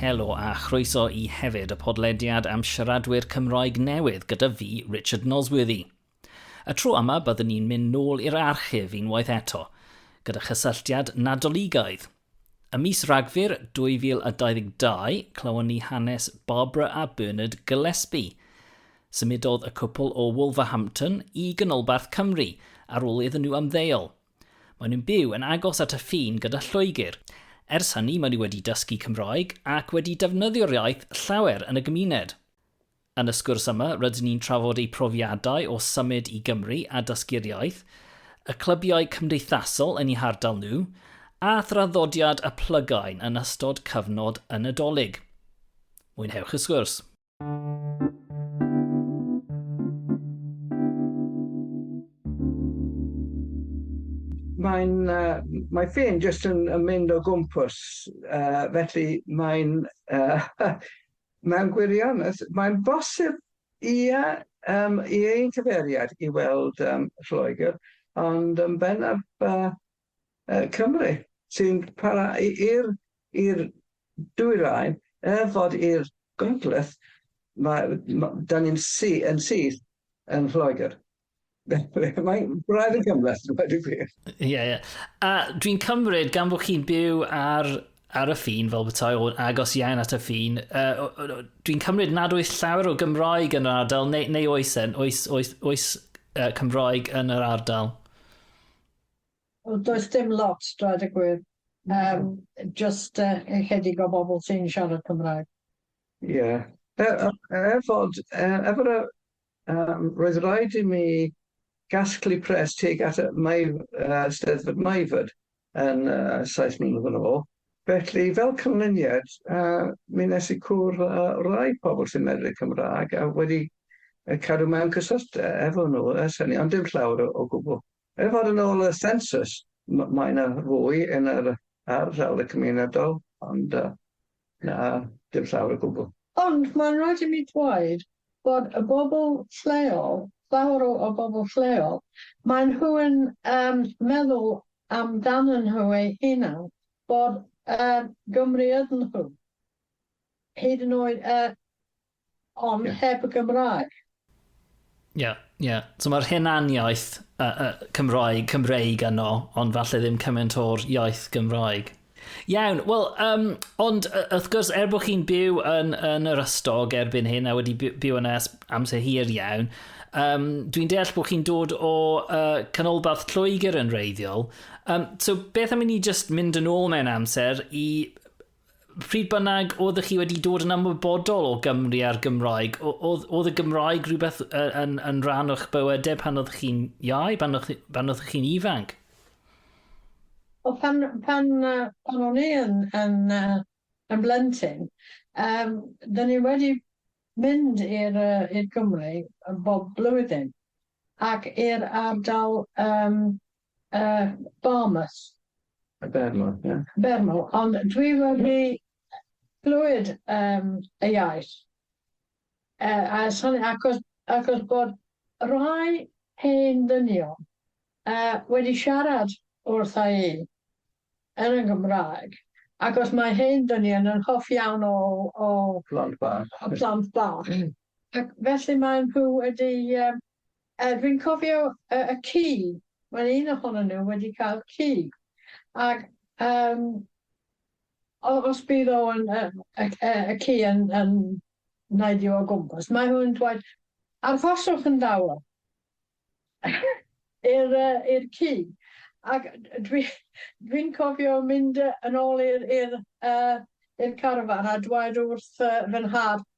Helo a chroeso i hefyd y podlediad am siaradwyr Cymroeg newydd gyda fi, Richard Nosworthy. Y tro yma byddwn ni'n mynd nôl i'r archif unwaith eto, gyda chysylltiad Nadoligaidd. Y mis Ragfyr 2022, clywon ni hanes Barbara a Bernard Gillespie. Symudodd y cwpl o Wolverhampton i Ganolbarth Cymru ar ôl iddyn nhw ymddeol, Maen nhw'n byw yn agos at y ffin gyda Lloegr. Ers hynny maen nhw wedi dysgu Cymraeg ac wedi defnyddio'r iaith llawer yn y gymuned. Yn y sgwrs yma rydyn ni'n trafod eu profiadau o symud i Gymru a dysgu'r iaith, y clybiau cymdeithasol yn eu hardal nhw, a thraddodiad y plygain yn ystod cyfnod y Nadolig. Mwynhewch y sgwrs. Mae'n yy mae ffin jyst yn yn mynd o gwmpas yy felly mae'n yy mewn gwirionedd mae'n bosib ie yym i ein cyfeiriad i weld yym Lloegr ond yn bennaf yy Cymru sy'n para i'r i'r dwyrain er fod i'r Gogledd ma' ma' 'dan ni'n sy- yn syth yn Lloegr. Mae'n braidd yn gymhleth dweud y gwir. Ie ie. A dwi'n cymryd gan bo' chi'n byw ar ar y ffin fel petai o'n agos iawn at y ffin uh, dwi'n cymryd nad oes llawer o Gymraeg yn yr ardal neu, neu oes en, oes, oes, oes uh, Cymraeg yn yr ardal? Wel does dim lot dweud y gwir yym jyst yy ychydig o bobl sy'n siarad Cymraeg. Ie e- e- er fod e- er fod y yym roedd raid i mi gasglu pres tuag at y Maif- yy Steddfod Maifod yn yy saith mlynedd yn ôl felly fel canlyniad yy mi nes i cwrdd â rai pobl sy'n medru Cymraeg a wedi yy cadw mewn cyswllt e- efo nhw ers hynny ond dim llawer o o gwbl. Er fod yn ôl y sensws, mae yna fwy yn yr ardal y cymunedol, ond na dim llawer o gwbl. Ond mae'n rhaid i mi ddweud bod y bobl lleol, llawer o o bobl lleol, maen nhw yn yym meddwl amdanyn nhw eu hunan bod yy Gymru ydyn nhw, hyd yn oed yy Ond heb y Gymraeg. Ie, ie. So mae'r hunaniaeth uh, uh, Cymraeg, Cymreig yno, ond falle ddim cymaint o'r iaith Gymraeg. Iawn, wel, um, ond wrth gwrs, er bod chi'n byw yn, yn yr ystog erbyn hyn a wedi byw yna amser hir iawn, um, dwi'n deall bod chi'n dod o uh, canolbarth Lloegr yn reiddiol. Um, so beth am i ni just mynd yn ôl mewn amser i Pryd bynnag oeddech chi wedi dod yn ymwybodol o Gymru a'r Gymraeg, oedd y Gymraeg rhywbeth yn, yn rhan o'ch bywydau e pan oedd chi'n iau, pan oedd, pan oedd chi'n ifanc? O, pan, pan, pan o'n i yn, yn, yn blentyn, um, dyn ni wedi mynd i'r uh, Gymru bob blwyddyn ac i'r ardal um, Yy, Barmouth. Yy, Bermo, ie. Bermo, ond dwi wedi clywed yym y iaith. Yy, a sori, achos achos bod rhai hen ddynion yy wedi siarad wrtha i yn y Gymraeg, achos mae hen ddynion yn hoff iawn o o... Plant bach. ...o plant bach. Ac felly maen nhw wedi yym Yy dwi'n cofio yy y ci, wel un ohonyn nhw wedi cael ci, ag yym o- os bydd o yn yy y y y ci yn yn neidio o gwmpas, mae nhw'n dweud arhoswch yn dawel i'r yy i'r ci, ac dwi dwi'n cofio mynd yy yn ôl i'r i'r yy i'r carfan a dweud wrth yy fy nhad,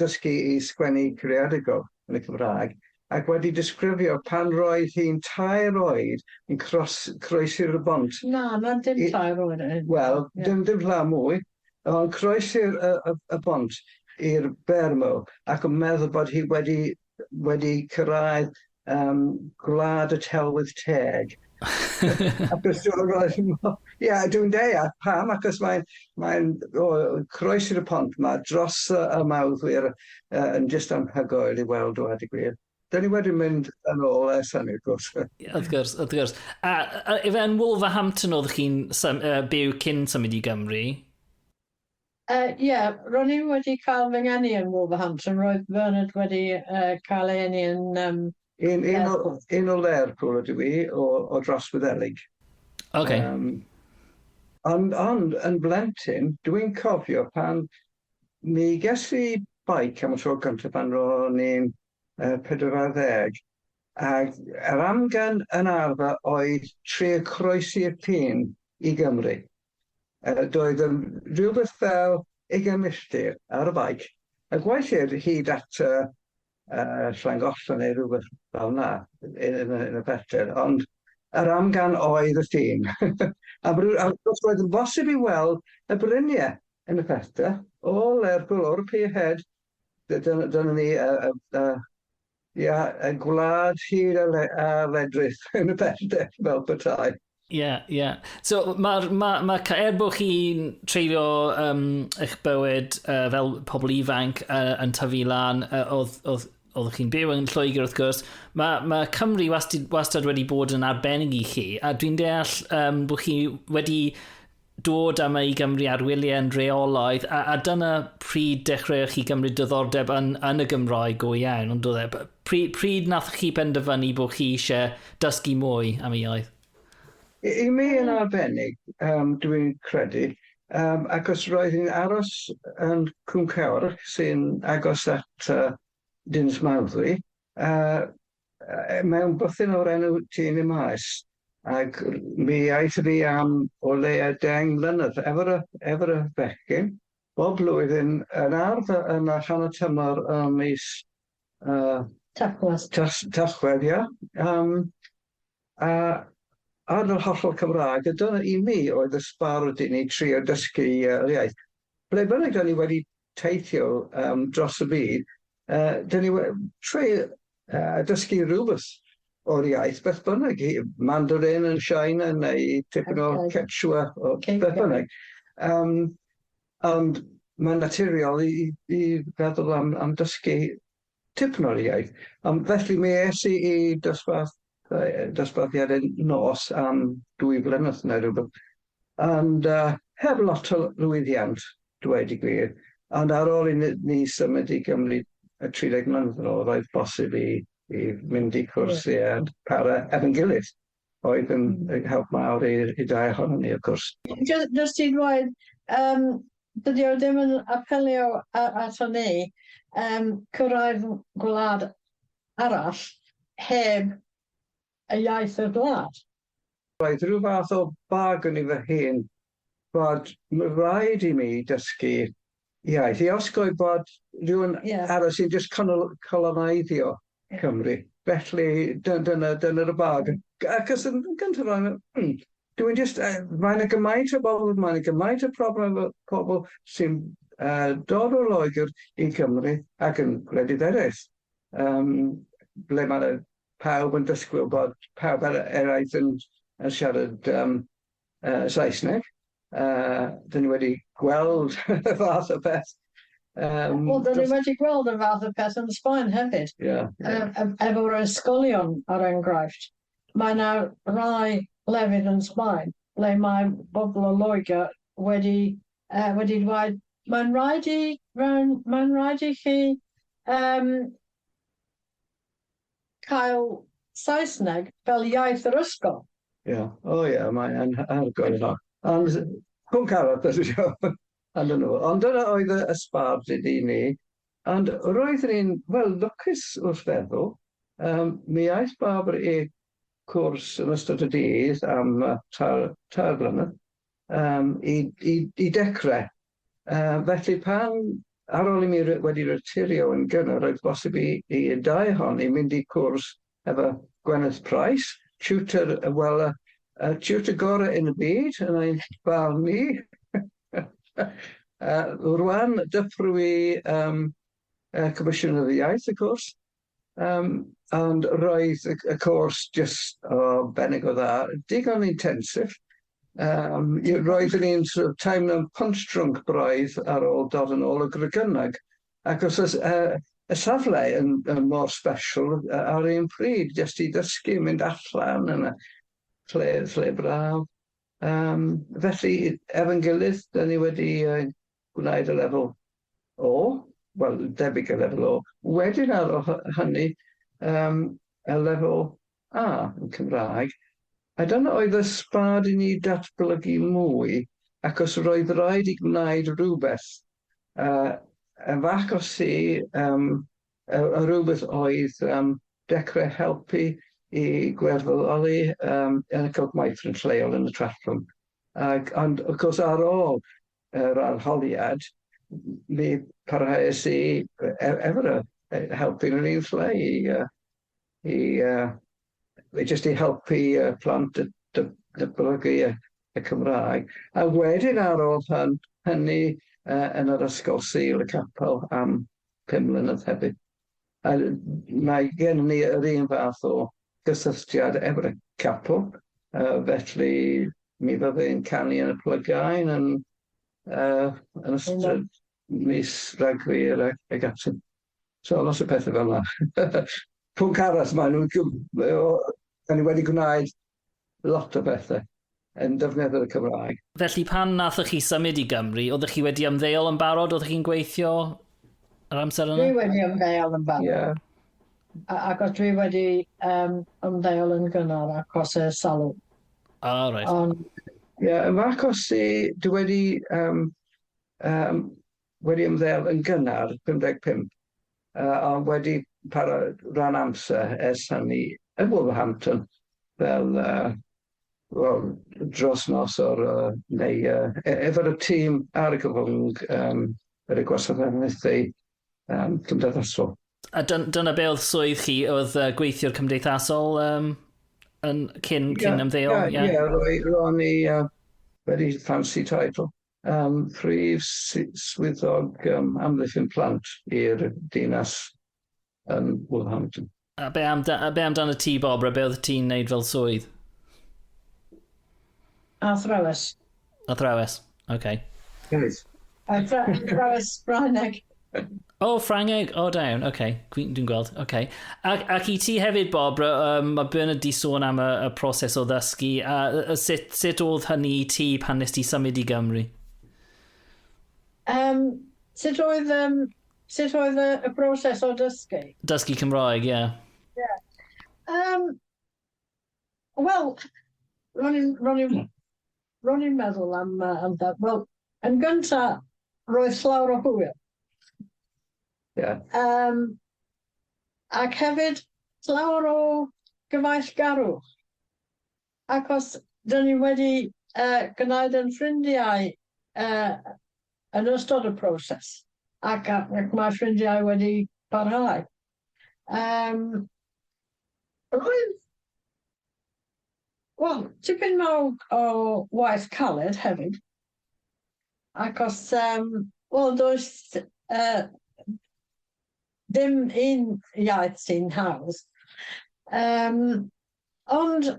dysgu i sgwennu creadigol yn y Cymraeg ac wedi disgrifio pan roedd hi'n tair oed yn cros croesi'r y bont Na, na, dim i- tair oed yn hyn. Wel, Ie. dim dim llaw mwy, ond croesi'r y y y bont i'r Bermo ac yn meddwl bod hi wedi wedi cyrraedd um, gwlad y telwydd teg. Achos ia, dwi'n deia, pam? Achos mae'n mae croes i'r pont yma, dros y mawddwyr uh, yn jyst anhygoel i weld o, a di gwir. Da ni wedi mynd yn ôl ers hynny, wrth gwrs. Wrth gwrs, wrth gwrs. A, a efe yn Wolverhampton oedd chi'n uh, byw cyn symud i Gymru? Yy, ie, ro'n i wedi cael fy ngeni yn Wolverhampton, roedd Bernard wedi yy cael ei eni yn yym Un, un o, Lerpwl. un o Lerpwl ydw i, o, o dros Wyddeleg. Ok. Yym, ond, ond, yn blentyn, dwi'n cofio pan mi ges i beic am y tro cynta pan ro'n i'n yy pedwar ar ddeg, ac yr amgen yn arfer oedd trio croesi'r ffin i Gymru. Yy doedd yn rhywbeth fel ugain milltir ar y beic a gweithir hyd at yy yy Llangollen neu rhywbeth fel 'na yy yn y yn y pellter ond yr amgan oedd y ffin a br- a wrth gwrs roedd yn bosib i weld y brynie yn y pellter o Lerpwl o'r pier head dy- dyna dyna ni yy yy yy Ia, y gwlad hir a, le, a ledrith yn y pellter fel petai. Ie, yeah, ie. Yeah. So, mae'r... Ma, ma, er bod chi'n treulio um, eich bywyd uh, fel pobl ifanc uh, yn tyfu lan, uh, oedd, oedd, oedd chi'n byw yn Lloegr wrth gwrs, mae, ma Cymru wastad, wastad wedi bod yn arbennig i chi, a dwi'n deall um, bod chi wedi dod â mi i Gymru ar wyliau yn rheolaidd, a, a dyna pryd dechreuoch chi gymryd diddordeb yn, yn y Gymraeg go iawn, ond oedd e, pryd, pryd nath chi penderfynu bod chi eisiau dysgu mwy am y iaith? I, i mi yn arbennig, um, dwi'n credu, um, achos roedd hi'n aros yn Cwmcewr sy'n agos at uh, Dinas Mawddwy, uh, Yy mewn bwthyn o'r enw Tŷ Ni Maes ac r- mi aethon ni am o leia' deng mlynedd efo'r y- efo'r y bechgyn bob blwyddyn yn ardd y- yn y rhan y tymor ym mis yy... Tachwedd. ...Tas- Tachwedd ia yym a ar yr hollol Cymraeg a dyna i mi oedd y sbard i ni trio dysgu yy yr iaith. Ble bynnag 'dan ni wedi teithio um, dros y byd, uh, dyn ni trwy uh, dysgu rhywbeth o'r iaith, beth bynnag, Mandarin yn China neu tipyn o Quechua o beth bynnag. Um, ond mae'n naturiol i, i feddwl am, am dysgu tipyn o'r iaith. Um, felly mi es i i dosbarth yy dosbarthiad yn nos am dwy flynedd neu rywbeth and yy heb lot o lwyddiant dweud y gwir ond ar ôl i ni ni symud i Gymru yy tri deg mlynedd yn ôl roedd bosib i i mynd i cwrs i yy para efo'n gilydd oedd yn yn help mawr i i dau ohonon ni wrth gwrs. Jy- jyst i ddweud yym dydi o ddim yn apelio a- ato ni yym cyrraedd gwlad arall heb y iaith y gwlad. Roedd rhyw fath o bag yn i fy hun fod rhaid i mi dysgu iaith i osgoi bod rhywun arall sy'n jyst coloneidddio Cymru. Felly dyna dyna'r bag. Achos yn gyntaf o'n i'n dwi jyst yy mae 'na gymaint o bobl, mae 'na gymaint o problem efo pobl sy'n yy dod o Loegr i Cymru ac yn gwledydd eraill. um, ble mae pawb yn dysgwyl bod pawb ar eraill yn, yn siarad um, uh, Saesneg. Uh, dyn ni wedi gweld y fath o beth. Um, Wel, dyn ni wedi gweld y fath o beth yn Sbaen hefyd. Yeah, yeah. E efo'r ysgolion ar enghraifft. Mae yna rai lefydd yn Sbaen ble mae bobl o Loegr wedi Yy, wedi dweud, mae'n rhaid i, mae'n, mae'n rhaid i chi, yym, cael Saesneg fel iaith yr ysgol. Ie, o ie, mae e'n hardcore hynna. Ond pwnc arall dwi isio ando nhw, ond dyna oedd y y sbart i i ni, ond roeddwn i'n, wel, lwcus wrth feddwl, yym, mi aeth Barbara i cwrs yn ystod y dydd am yy tair, tair blynedd, Yym, i, i, i dechrau. Yy, felly pan, ar ol i mi ry- wedi retirio yn gynnar, roedd bosib i, i y dau ohon ni mynd i cwrs efo Gwyneth Price, tiwtor, yy, wel, y y tiwtor gorau yn y byd, yn ein barn ni. Yy, rwan, dyfrwy, yym, yy, Comisiynwyr y Iaith, wrth gwrs, Yym, ond roedd y y cors jyst o benig o dda, digon intensive. Yym, ie, roeddwn i'n sort of teimlo'n punch drunk braidd ar ôl dod yn ôl o Gregynog, ac os oes yy y safle yn yn mor special yy ar un pryd jyst i ddysgu, mynd allan yn y lle lle braf. Yym, felly efo'n gilydd, 'dan ni wedi yy gwnaed y lefel O, wel, debyg y lefel O. Wedyn ar ol hynny, um, y lefel A yn Cymraeg, a dyna oedd y sbad i ni datblygu mwy, ac os roedd rhaid i gwnaed rhywbeth, uh, y fac o si, um, y, y rhywbeth oedd um, dechrau helpu i gwerthfawroli um, yn y cylch maith yn lleol yn y Trallwng. Ac, ond, of course, ar ôl yr arholiad, mi parhaes i efo'r yy helpu rili yn lle i yy i yy jyst i helpu y plant y dy- datblygu y y Cymraeg a wedyn ar ôl hyn- hynny yy yn yr ysgol Sul y Capel am pum mlynedd hefyd. A mae gen ni yr un fath o gysylltiad efo'r capel, uh, felly mi fydde yn canu yn y plygain yn, uh, yn ystod mis ragfyr ac, ac ati. So lot o pethau fel yna. Pwnc arall, maen nhw'n... O'n i wedi gwneud Lot o bethe. Yn defnyddio'r y Cymraeg. Felly pan nathoch chi symud i Gymru, oeddech chi wedi ymddeol yn barod, oeddech chi'n gweithio yr amser yna? Dwi wedi ymddeol yn barod. Yeah. A agos dwi wedi um, ymddeol yn gynnar acos y salw. Ah, oh, right. On... Yeah, yn fach acos i, dwi wedi, um, um, wedi ymddeol yn gynnar 55. a oedd wedi para rhan amser ers hynny yn Wolverhampton fel uh, well, dros nos o'r uh, neu uh, efo'r y tîm ar y gyfwng um, yr y gwasanaethau um, cymdeithasol. A dyna be oedd swydd chi, oedd uh, gweithiwr cymdeithasol um, yn cyn, cyn yeah, ymddeol? Ie, yeah, yeah. yeah, ro'n i uh, wedi fancy title. Am Prif Swyddog um, Amddiffyn Plant i'r Dinas yn Woolhampton. A be, am, a be amdano ti, Bobra? Be oedd ti'n neud fel swydd? Athrawes. Athrawes, oce. Okay. Athrawes Ffrangeg. O, oh, Ffrangeg, o oh, da iawn, oce, okay. dwi'n dwi gweld, oce. Okay. Ac, ac i ti hefyd, Bob, um, mae Bernard di sôn am y, y proses o ddysgu, a, a sut, sut oedd hynny i ti pan nes ti symud i Gymru? Um, sut oedd, um, sut oedd y, y broses o dysgu? Dysgu Cymraeg, ie. Yeah. Yeah. Um, Wel, ro'n i'n Ro'n i'n meddwl am yy am da- wel yn gynta roedd llawer o hwyl. Ie. Yym ac hefyd llawer o gyfaill-garwch acos dyn ni wedi yy gwnaed yn ffrindiau yy yn ystod y proses ac a- ac mae ffrindiau wedi parhau. Yym roedd wel tipyn mawr o waith caled hefyd ac os yym wel does yy dim un iaith sy'n hawdd yym ond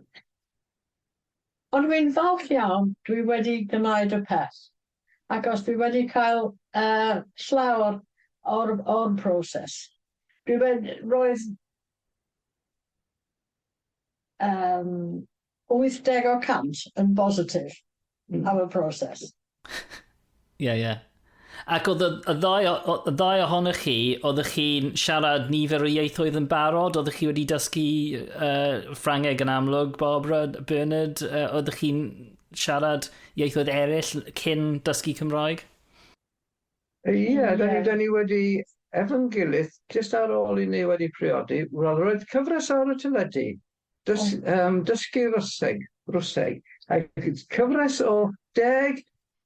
ond wi'n falch iawn dwi wedi gwneud y peth. achos dwi wedi cael yy llawer o'r o'r proses. Dwi wed- roedd yym wyth deg o cant yn bositif am y proses. Ie ie. Ac oedd y y ddau o- o- y ddau ohonoch chi, oeddech chi'n siarad nifer o ieithoedd yn barod? Oeddech chi wedi dysgu yy Ffrangeg yn amlwg, Barbara, Bernard? Yy oeddech chi'n siarad ieithoedd eraill cyn dysgu Cymraeg? Ie, da ni, da ni wedi efo'n gilydd, jyst ar ôl i ni wedi priodi, wel roedd cyfres ar y teledu, dys, um, dysgu Rwseg, Rwseg, ac cyfres o deg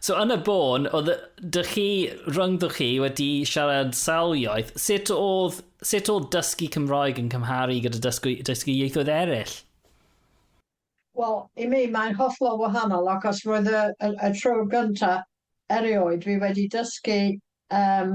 So yn y bôn, oedd dych chi, rhyngddoch chi, wedi siarad sawl iaith, sut oedd, sut oedd dysgu Cymraeg yn cymharu gyda dysgu, dysgu ieithoedd eraill? Wel, i mi mae'n hollol wahanol achos roedd y, y, y tro gyntaf erioed fi wedi dysgu um,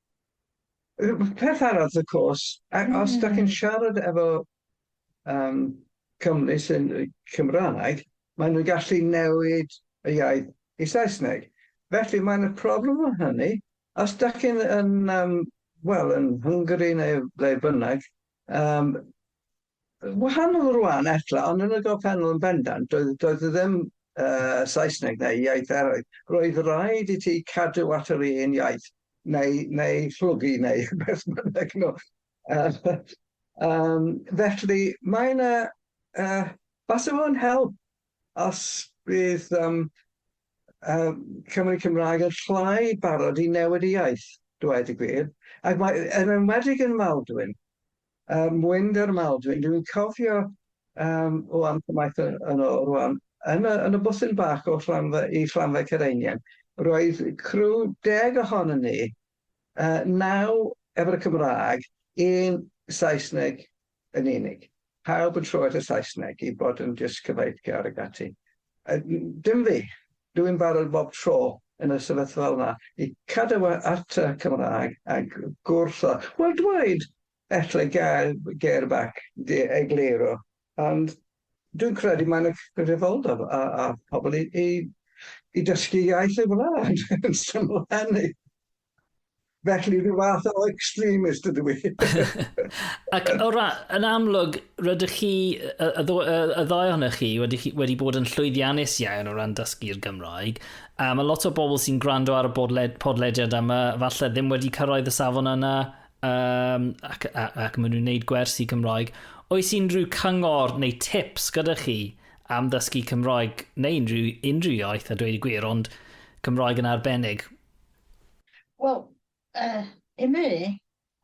Yy peth arall wrth gwrs a- a- os 'dach chi'n Hmm. siarad efo yym cymry sy'n yy Cymraeg ma' nw'n gallu newid y iaith i Saesneg felly ma' 'na problem o hynny os 'dach chi'n yn yym wel yn Hungary neu ble bynnag yym Yn wahanol rwan ella, ond yn y gorffennol yn bendant, doedd, doedd ddim uh, Saesneg neu iaith eraill. Roedd rhaid i ti cadw at yr un iaith, neu, neu llwgu, neu beth bynnag. No. Uh, um, felly, mae yna, uh, falle fo'n help os bydd um, uh, Cymru Cymraeg yn llai barod i newid y iaith, dweud y gwir. Ac mae, yn enwedig yn Maldwyn, Yym wind ar Maldwyn dwi'n cofio yym ŵan cymaint yn yn ôl rŵan yn y yn y bwthyn bach o Fflamfa i Fflamfa Cereinian roedd criw deg ohonyn ni yy naw efo'r y Cymraeg un Saesneg yn unig pawb yn troi at y Saesneg i bod yn jyst cyfaithgar ag ati yy dim fi Dw i'n barod bob tro yn y sefyllfa yma i cadw at y Cymraeg a gwrtho, wel dweud elle gair gair bac de egluro, ond dw i'n credu mae'n y cyfrifoldeb ar pobl i i i dysgu iaith ei wlad yn syml a hynny. Felly, rhyw fath o extremist ydw i. Ac o ra, yn amlwg, rydych chi, y, y, y ddau ohonych chi wedi, wedi bod yn llwyddiannus iawn o ran dysgu'r Gymraeg. A mae lot o bobl sy'n gwrando ar y bodled, podlediad yma, falle ddim wedi cyrraedd y safon yna, um, ac, ac, ac maen nhw'n gwneud gwersi Cymraeg. Oes unrhyw cyngor neu tips gyda chi am ddysgu Cymraeg neu unrhyw, unrhyw iaith a dweud y gwir, ond Cymraeg yn arbennig? Wel, uh, i mi,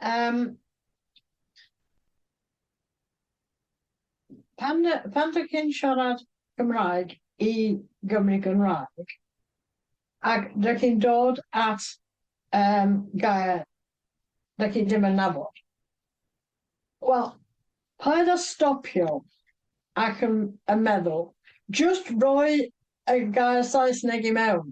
um, pan, pan dych chi'n siarad Cymraeg i Gymru Gymraeg, ac dych chi'n dod at um, gair dych chi ddim yn nabod. Wel, paid â stopio ac yn, yn meddwl, just roi y gair Saesneg i mewn.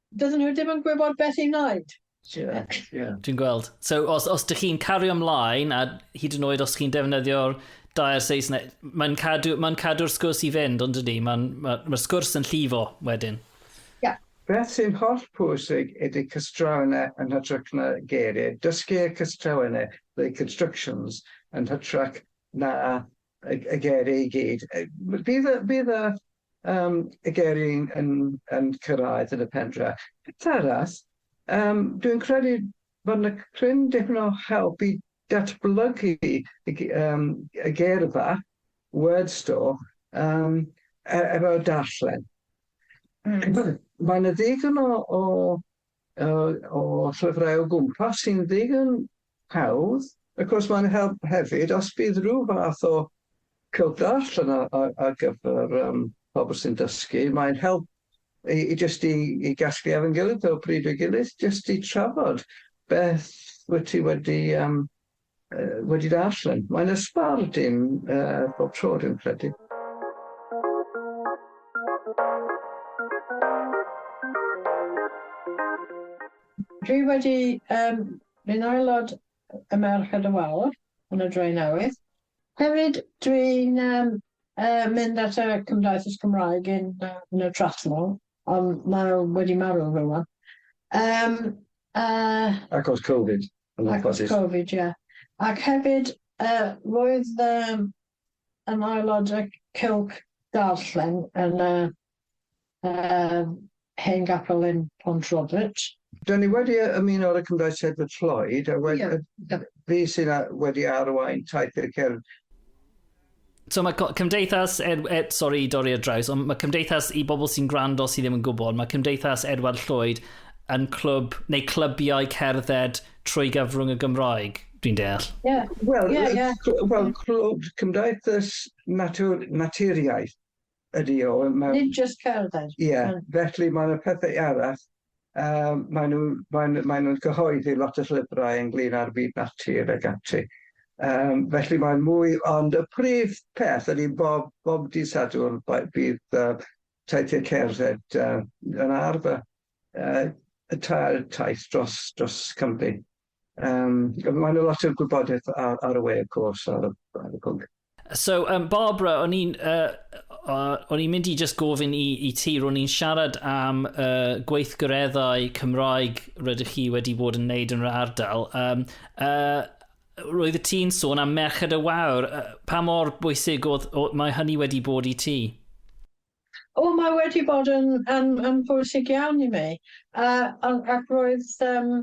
Dydyn nhw ddim yn gwybod beth i wneud. Yeah, yeah. Dwi'n gweld. So, os, os dych chi'n cario ymlaen, a hyd yn oed os chi'n defnyddio'r dair Saesneg, mae'n cadw'r cadw, mae cadw sgwrs i fynd, ond ydy, mae'n ma, ma sgwrs yn llifo wedyn. Yeah. Beth sy'n holl pwysig ydy cystrawnau yn hytrach na geiriau. Dysgu y cystrawnau, the constructions, yn hytrach na y y geiriau i gyd yy m- bydd y bydd y yym y geiriau yn yn yn cyrraedd yn y pen draw. Peth arall yym dwi'n credu bod 'na cryn dipyn o help i datblygu y g- yym y geirfa word store yym e- efo darllen. Mae 'na ddigon o o o llyfrau o gwmpas sy'n ddigon hawdd. Wrth gwrs mae'n help hefyd os bydd rhyw fath o cyldarllen ar gyfer pobl sy'n dysgu, mae'n help i jyst i gasglu ar fy ngilydd o bryd i'w gilydd jyst i trafod beth wyt ti wedi Yy wedi darllen. Mae'n ysbar dim yy bob tro dwi'n credu. Dwi wedi yym mynd aelod y Merched y Wawr yn y Drenewydd. Hefyd dwi'n yym yy mynd at y Cymdeithas Cymraeg yn yy yn y Trallwng ond mae o wedi marw rŵan. Yym yy. Achos Covid. Achos Covid ie. Ac hefyd yy roedd yym yn aelod y cylch darllen yn y yym hen gapel yn Pont Robert. Dan ni wedi ymuno ar y Cymraeg Sedford Lloyd a wed- fi sy'n a- wedi arwain taith i'r cefn. So mae cymdeithas, er, er, sorry i dorri ar draws, ond mae cymdeithas i bobl sy'n gwrando sydd ddim yn gwybod, mae cymdeithas Edward Llwyd yn clwb, neu clybiau cerdded trwy gyfrwng y Gymraeg, dwi'n deall. Yeah. Wel, yeah, yeah. well, clwb cymdeithas natur, naturiaeth, Ydy o, mae... Nid jyst cerdded. Ie, felly mae yna pethau arall. Yym, maen nhw, maen nhw, maen nhw'n cyhoeddi lot o llyfrau ynglyn â'r byd natur ac ati. Yym, felly mae'n mwy... Ond y prif peth ydy bob, bob dydd Sadwrn bydd uh, taithiau cerdded uh, yn arfer uh, y tair taith dros, dros Cymru. Um, mae yna lot o gwybodaeth ar, ar y we, of course, ar y, ar y pwnc. So, um, Barbara, o'n i'n uh, uh, o'n i'n mynd i just gofyn i, i ti, ro'n i'n siarad am uh, gweithgareddau Cymraeg rydych chi wedi bod yn neud yn yr ardal. Um, uh, roedd y ti'n sôn am Merched y Wawr. Uh, pa mor bwysig oedd, oedd, mae hynny wedi bod i ti? O, oh, mae wedi bod yn, yn, yn bwysig iawn i mi. Uh, ac roedd um,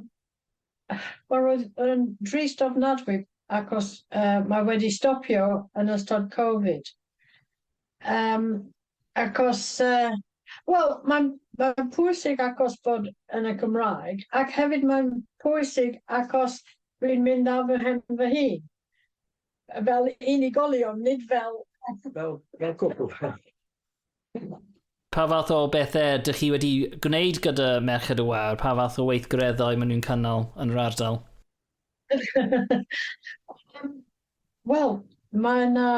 Wel roedd yn drist ofnadwy achos yy mae wedi stopio yn ystod covid yym achos yy wel mae'n mae'n pwysig achos bod yn y Gymraeg ac hefyd mae'n pwysig achos dwi'n mynd ar fy nhen fy hun. Fel unigolion, nid fel... Fel, fel cwpl. Pa fath o bethe dych chi wedi gwneud gyda Merched y Wawr? Pa fath o weithgareddau maen nhw'n cynnal yn yr ardal? Yym, wel, mae 'na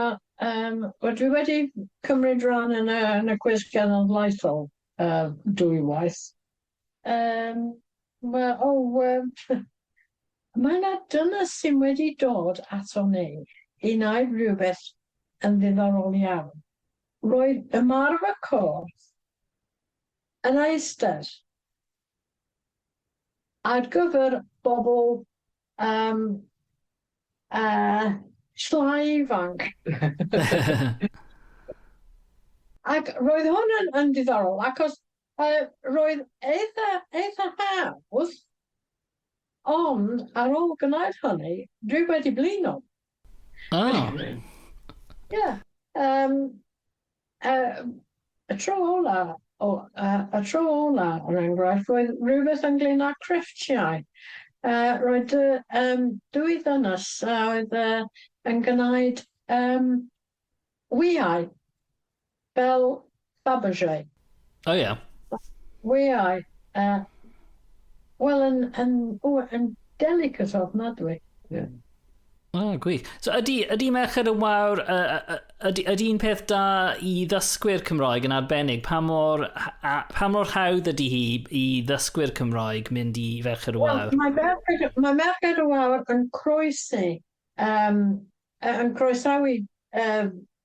yym... Wel, dwi wedi cymryd ran yn y yn y cwis genedlaethol yy dwywaith. Yym, ma o yym ma na dynes sy'n wedi dod ato ni i wneud rhywbeth yn ddiddorol iawn. Roedd ymarfer corff yn eistedd ar gyfer bobl yym yy llai ifanc. Ac roedd hwn yn yn ddiddorol acos Yy, roedd eitha, eitha hawdd, ond ar ôl gwneud hynny, dwi wedi blino. O! Ie, yym, yy, y tro ola, o, yy, y tro ola, er enghraifft, roedd rhywbeth ynglŷn â crefftiau. Yy, roedd dwy, yym, dwy ddynes a oedd yy yn gwneud, yym, wyau. Fel Fabergé. O ie. Weai yy wel yn yn o yn delicate ofnadwy. Ie. O gwych. So ydi ydi Merched y Wawr yy yy yy ydi ydi'n peth da i ddysgwyr Cymraeg yn arbennig pa mor h- a pa mor hawdd ydi hi i ddysgwyr Cymraeg mynd i Ferched y Wel Wawr? mae Merched y mae Merched y Wawr yn croesi yym yy yn croesawu yy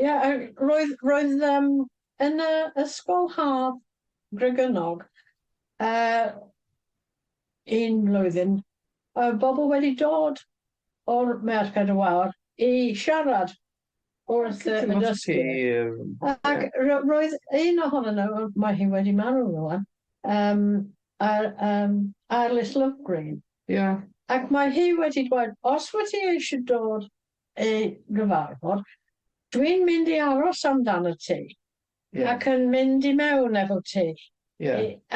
Ie, roedd, roedd yym yn y ysgol haf Gregynog yy un mlwyddyn oedd bobl wedi dod o'r Merched y Wawr i siarad wrth y y dysgwyr ac ro- roedd un ohonyn nhw, mae hi wedi marw rŵan, yym a- yym Arlis Lovegreen... Ie... ac mae hi wedi dweud os wyt ti eisiau dod ei gyfarfod, dwi'n mynd i aros amdan y tŷ ac yn mynd i mewn efo ti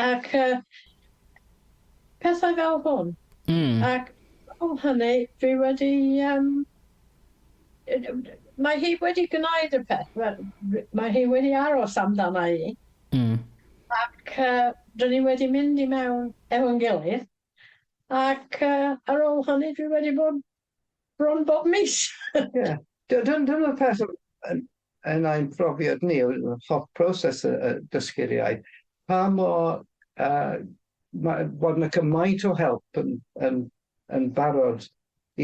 ac pethau fel hwn ac ar ol hynny dwi wedi yym mae hi wedi gwneud y peth wel mae hi wedi aros amdana i ac dyn ni wedi mynd i mewn efo'n gilydd ac ar ol hynny dwi wedi bod Bron bob mis! Ie. Dy- dyn- dyna'r peth o- yn yn ein profiad ni o y holl proses y y dysgu'r iaith, pa mor yy ma' bod 'na cymaint o help yn yn yn barod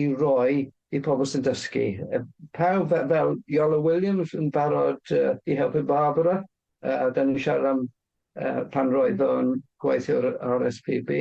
i roi i pobl sy'n dysgu yy pawb fe- fel Iolo Williams yn barod yy i helpu Barbara yy 'dan ni'n siarad am yy pan roedd o'n gweithio ar y ar es pi bi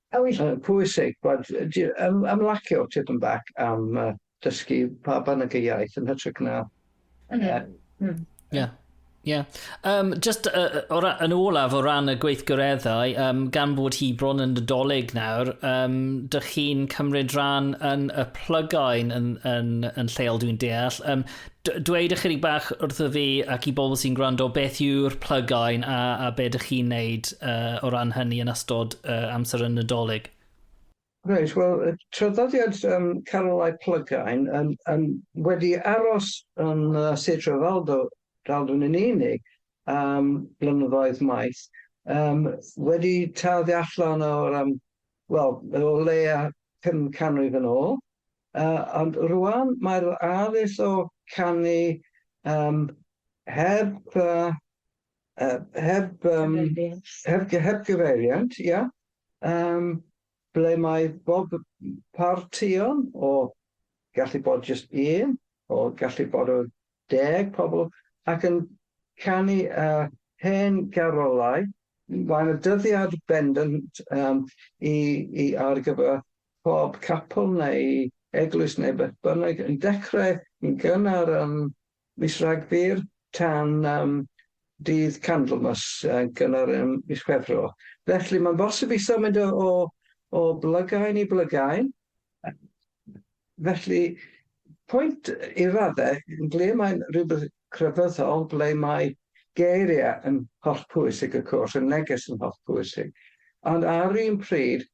A oes yn pwysig bod ymlacio tipyn bach am dysgu pa bynnag y iaith yn hytrach na... Ie. Ie. Um, just uh, o ra, yn olaf o ran y gweithgareddau, um, gan bod hi bron yn nadolig nawr, um, dych chi'n cymryd rhan yn y plygain yn, yn, yn lleol dwi'n deall. Um, D dweud ychydig bach wrtho fi ac i bobl sy'n gwrando beth yw'r plygain a, a be dych chi'n neud uh, o ran hynny yn ystod uh, amser y Nadolig? Reit, wel, traddodiad um, carolau plygain um, um, wedi aros yn uh, Sir Trefaldo, Draldwn yn unig am blynyddoedd maith, um, wedi tarddu allan o'r um, wel, o leia 5 canrif yn ôl, Yy ond rŵan mae'r addysg o canu yym heb yy yy heb yym heb gy- heb gyfeiriant ia yym ble mae bob partïon o gallu bod jyst un o gallu bod o deg pobl ac yn canu yy hen garolau mae 'na dyddiad bendant yym i i ar gyfer pob capel neu eglwys neu beth bynnag yn dechrau yn gynnar ym mis Rhagfyr tan yym dydd Candlemas yn gynnar ym mis Chwefror. Felly mae'n bosib i sâl mynd o o o blygain i blygain. Felly pwynt i raddau ble mae'n rhywbeth crefyddol ble mae geiriau yn hollpwysig y cwrs, y neges yn hollpwysig ond ar un pryd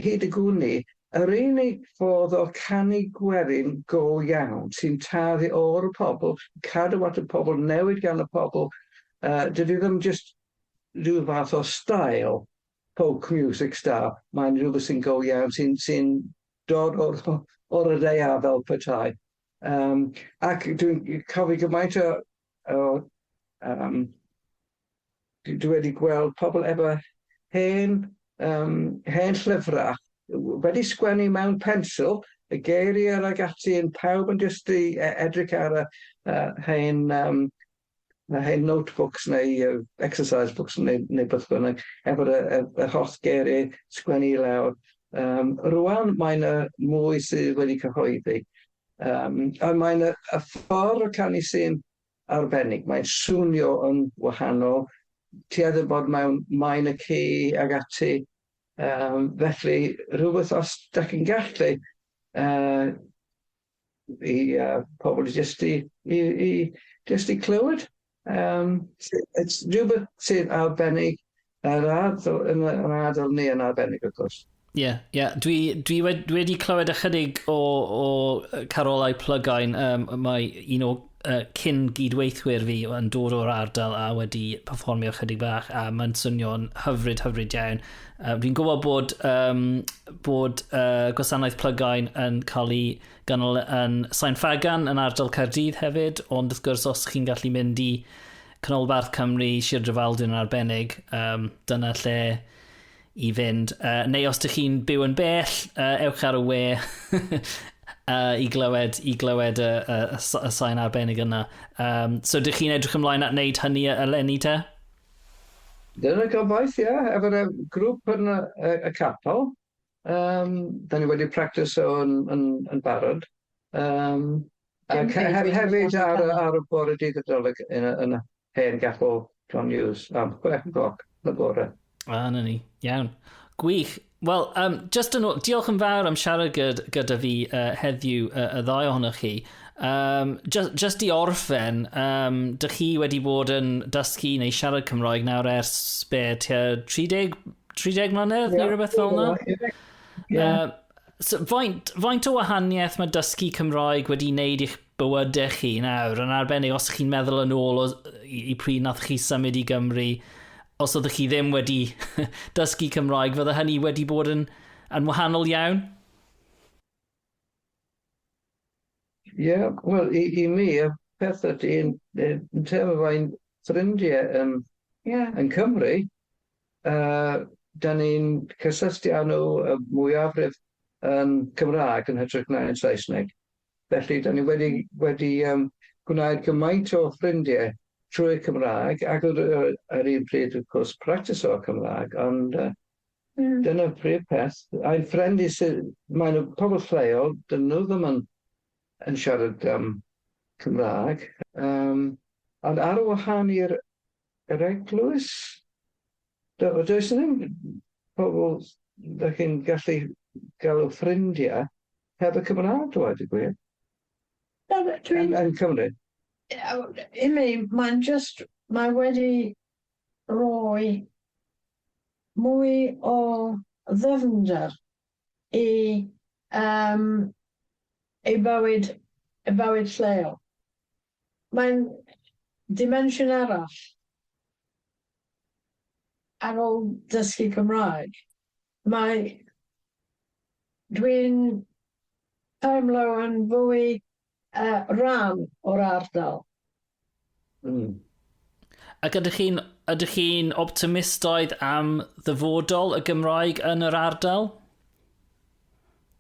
Hyd y gwn i, yr unig fodd o canu gwerin go iawn sy'n tarddu o'r y pobl, cadw at y pobl, newid gan y pobl, dydy ddim jyst rhyw fath o stael, folk music style, mae'n rhywbeth sy'n go iawn, sy'n sy'n dod o'r o'r y ddaear fel petai. Ac dwi'n cofio gymaint o o yym Dwi dwi wedi gweld pobl efo hen yym hen llyfra w- wedi sgwennu mewn pensil y geiriau ag ati yn pawb yn jyst i e- edrych ar y yy hen yym y hen notebooks neu yy exercise books neu neu beth bynnag efo y y yr holl geiriau sgwennu i lawr yym rŵan mae na mwy sydd wedi cyhoeddi yym a mae na y ffordd o canu sy'n arbennig. Mae'n swnio yn wahanol. Ti eitha bod mewn maen y ci ag ati. Um, felly, rhywbeth os da chi'n gallu uh, i uh, pobl jyst i, i, i, just i clywed. Um, it's rhywbeth sydd arbennig Yr ardal, yn yr ardal ni yn arbennig wrth gwrs. Ie, yeah, ie. Yeah. Dwi, dwi, wedi, dwi wedi clywed ychydig o, o carolau plygain. Um, mae un o uh, cyn gydweithwyr fi yn dod o'r ardal a wedi performio ychydig bach a mae'n swnio'n hyfryd, hyfryd iawn. Uh, fi'n gwybod bod, um, bod uh, gwasanaeth plygain yn cael ei ganol yn Sain Fagan yn ardal Caerdydd hefyd, ond wrth gwrs os chi'n gallu mynd i Canolbarth Cymru, Sir Drefaldwyn yn arbennig, um, dyna lle i fynd. Uh, neu os ydych chi'n byw yn bell, uh, ewch ar y we uh, i glywed, i glywed y, y, y, y sain arbennig yna. Um, so ydych chi'n edrych ymlaen at wneud hynny eleni te? Dyna gobaith, ie, yeah, efo'r grŵp yn y, y, y capel. Yym, dan ni wedi practiso yn yn yn barod. Yym, ac he- hefyd ar y ar y bore dydd Nadolig yn y yn y hen gapel John Hughes am chwe cloc yn y bore. A, 'na ni. Iawn. Gwych. Wel, um, just yn ôl, diolch yn fawr am siarad gyd- gyda fi uh, heddiw uh, y ddau ohonoch chi. Um, just, just i orffen, um, dych chi wedi bod yn dysgu neu siarad Cymroeg nawr ers be, tua 30, 30 mlynedd yeah, neu rhywbeth fel yna? Yeah. yeah. Uh, so, faint, faint o wahaniaeth mae dysgu Cymroeg wedi wneud i'ch bywydau chi nawr, yn arbennig os chi'n meddwl yn ôl o, i, i pryd nath chi symud i Gymru, os oeddech chi ddim wedi dysgu Cymroeg, fydde hynny wedi bod yn, yn wahanol iawn? Ie, wel, i, i mi, y peth ydy, yn, yn teimlo fai'n ffrindiau yn, yeah. yn Cymru, uh, da ni'n cysylltu â nhw y mwyafrif yn Cymraeg yn hytrach na yn Saesneg. Felly, da ni wedi, wedi um, gwneud gymaint o ffrindiau trwy'r Cymraeg, ac ar yr un pryd, wrth gwrs, practiso Cymraeg, ond uh, Mm. Dyna'r prif peth. A'i ffrind i sydd... Mae nhw pobl lleol, dyn nhw ddim yn, yn siarad um, Cymraeg. Um, ond ar wahân i'r yr eglwys, do, does ddim pobl da chi'n gallu galw ffrindiau heb y Cymraeg, dweud y gwir. Dwi'n... Yn, yn Cymru. I mean, mae'n just, mae wedi roi mwy o ddyfnder i yym i bywyd y bywyd lleol. Mae'n dimensiwn arall ar ôl dysgu Cymraeg. Mae dwi'n teimlo yn fwy yy rhan o'r ardal. Mm. Ac ydych chi'n ydych chi'n optimistoedd am ddyfodol y Gymraeg yn yr ardal?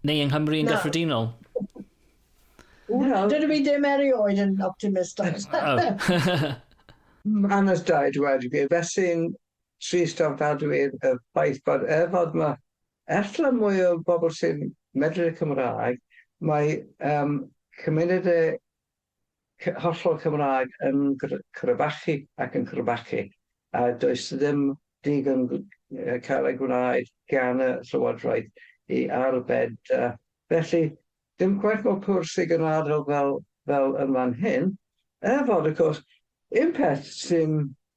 Neu yng Nghymru yn gyffredinol? Dydw i ddim erioed yn optimistaidd. Yn ystod wedi felly'n Trist ofnadwy y ffaith bod er fod ma ella mwy o bobl sy'n medru Cymraeg, mae yym cymunedau cy- hollol Cymraeg yn gr- crebachu ac yn crebachu, a does ddim digon gw- yy cael ei gwneud gan y Llywodraeth i arbed yy felly dim cweit mor pur sydd yn ardal fel fel yn fan hyn, er fod wrth gwrs un peth sy'n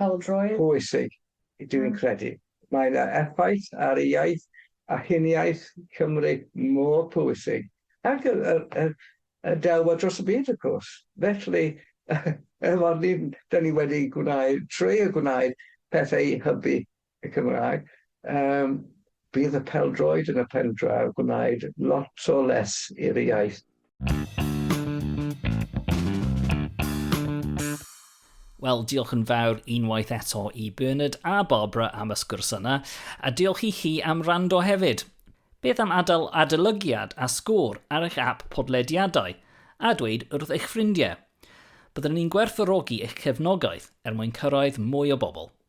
Pêl-droed. Pwysig, dw i'n credu. Mae yna effaith ar ei iaith a huniaith Cymru mor pwysig, ac y y y y delwedd dros y byd wrth gwrs. Felly, efo'r ni'n 'dan ni wedi gwneud, trio gwneud pethau i hybu y Cymraeg, yym, bydd y peldroed yn y pendraw gwnaed lot o les i'r iaith. Wel, diolch yn fawr unwaith eto i Bernard a Barbara am y sgwrs yna, a diolch i chi am rando hefyd. Beth am adael adolygiad a sgôr ar eich app podlediadau, a dweud wrth eich ffrindiau? Byddwn ni'n gwerthfawrogi eich cefnogaeth er mwyn cyrraedd mwy o bobl.